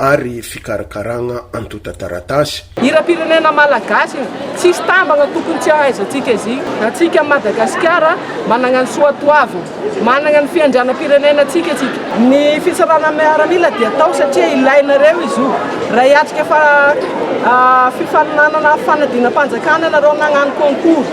ary fikarakaragna antotan-taratasy. Hiram-pirenena malagasy e! Tsisy tambagna tokony tsy ahaizantsika izy. Antsika Madagasikara managna ny soatoavina, managna ny fiandrianam-pirenena antsika tsika. Ny fitsarana miaramila dia atao satria ilainareo izy io. Raha hiatrika fa fifaninanana fanadinam-panjakana ianareo nagnano concours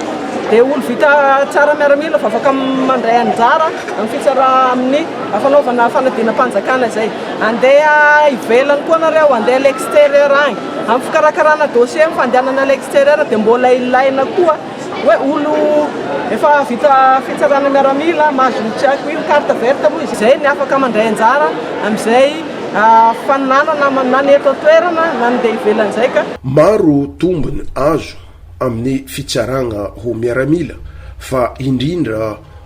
dia olo vita tsara miaramila vao afaka mandray anjara amin'ny fitsara amin'ny fanaovana fanadinam-panjakana izay. Andeha ivelany koa nareo, andeha à l'extérieur agny. Am fikarakarana dossier am fandehanana à l'extérieur dia mbola ilaina koa hoe olo efa vita fitsarana miaramila mahazo tsy haiko ino carte verte moa izy izay ny afaka mandray anjara amizay faninana na ny eto an-toerana na ny dia ivelany zay ka. Maro tombony azo amin'ny fitsaragna ho miaramila fa indrindra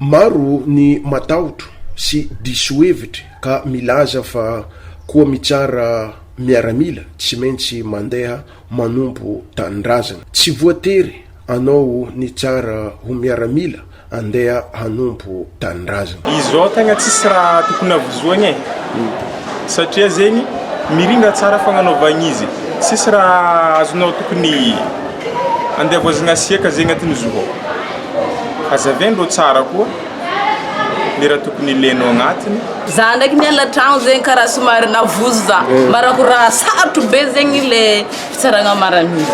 Maro ny matahotra sy diso hevitra ka milaza fa koa mitsara miaramila tsy maintsy mandeha manompo tanindrazana. Tsy voatery anao nitsara ho miaramila andeha hanompo tanindrazana. Izao tegna tsisy raha tokony havozoagna e! Satria zegny mirindra tsara fagnanaovagna izy e! Tsisy raha azonao tokony andeha voazagna asiaka zegny agnatin'ny zo ao. Hazaveno lo tsara koa ny raha tokony ileno agnatiny. Za ndraiky miala tragno zegny karaha somary navozo za mba raha ko raha sarotro be zegny le fitsaragna marigny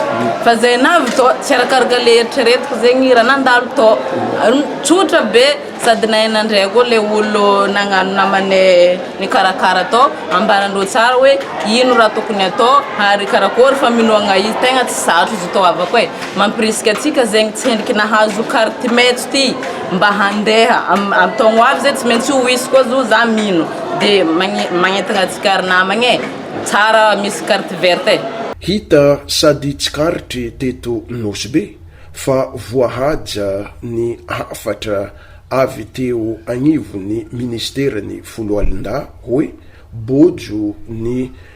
fa zay navy tô tsy arakaraka le eritreretiko zegny raha nandalo tô tsotra be sady nahay nandre koa le olo nagnano namane nikarakara tô ambaran'ireo tsara hoe ino raha tokony atao ary karakôry famenoagna izy tegna tsy sarotro izy tô havako e. Mampirisika antsika zegny tsy hendriky nahazo carte maitso ty mba handeha am taogno ho avy zay tsy maintsy ho hisy koa zo za mino de magnentagna antsika ry namagna e tsara misy carte verte e. Hita sady tsikaritry teto Nosy be fa voahaja ny hafatra avy teo agnivon'ny ministeran'ny Foloalindahy hoe bojo ny